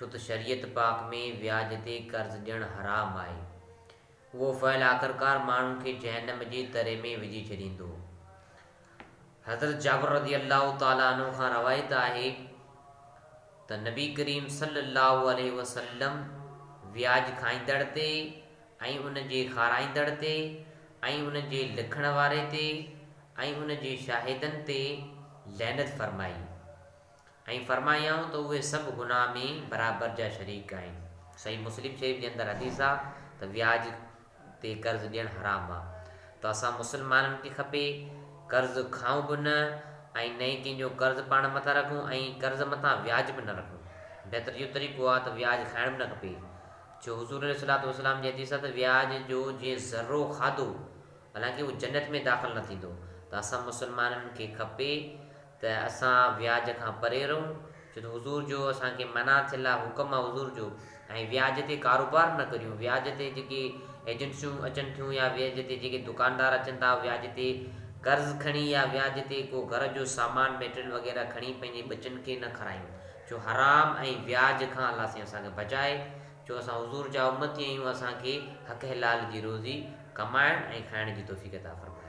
ڇو ته شريعت پاڪ ۾ وياج تي قرض ڏيڻ حرام آهي. اهو فعل آخرڪار ماڻهن کي جهنم جي تري ۾ وجهي ڇڏيندو. حضرت جابر رضي الله تعالٰي عنه کان روايت آهي ته نبي ڪريم صلّي الله عليه وسلّم وياج کائيندڙ تي ۽ ان جي کارائيندڙ تي ۽ ان جي لکڻ واري تي ۽ ان جي شاهدن تي لعنت فرمائي. ۽ فرمايائون ته اهي سڀ گناهه ۾ برابر جا شريڪ آهن. صحيح مسلم شريف جي اندر حديث آ ته وياج تي قرض ڏيڻ حرام آ ته اسان مسلمانن کي کپي قرض کائون به نه ۽ نه ئي ڪنهن جو قرض پاڻ مٿان رکون ۽ قرض مٿان وياج به نه رکون بهتر اهو طريقو آ ته وياج کائڻ به نه کپي ڇو حضور عليه الصلوة والسلام جي حديث آ ته وياج جو جنهن ذرو کاڌو حالانڪه اهو جنت ۾ داخل نه ٿيندو ته اسان مسلمانن کي کپي ته اسان وياج کان پري رهون، ڇو ته حضور جو اسان کي منع ٿيل آهي، حڪم آهي حضور جو، ۽ وياج تي ڪاروبار نه ڪريون، وياج تي جيڪي ايجنسيون اچن ٿيون يا وياج تي جيڪي دڪاندار اچن ٿا، وياج تي قرض کڻي يا وياج تي ڪو گهر جو سامان ميٽريل وغيره کڻي پنهنجي ٻچن کي نه کارايون، جو حرام ۽ وياج کان الله سائين اسان کي بچائي، جو اسان حضور جا امتي آهيون، اسان کي حق حلال جي روزي ڪمائڻ ۽ کائڻ جي توفيق عطا فرمائي.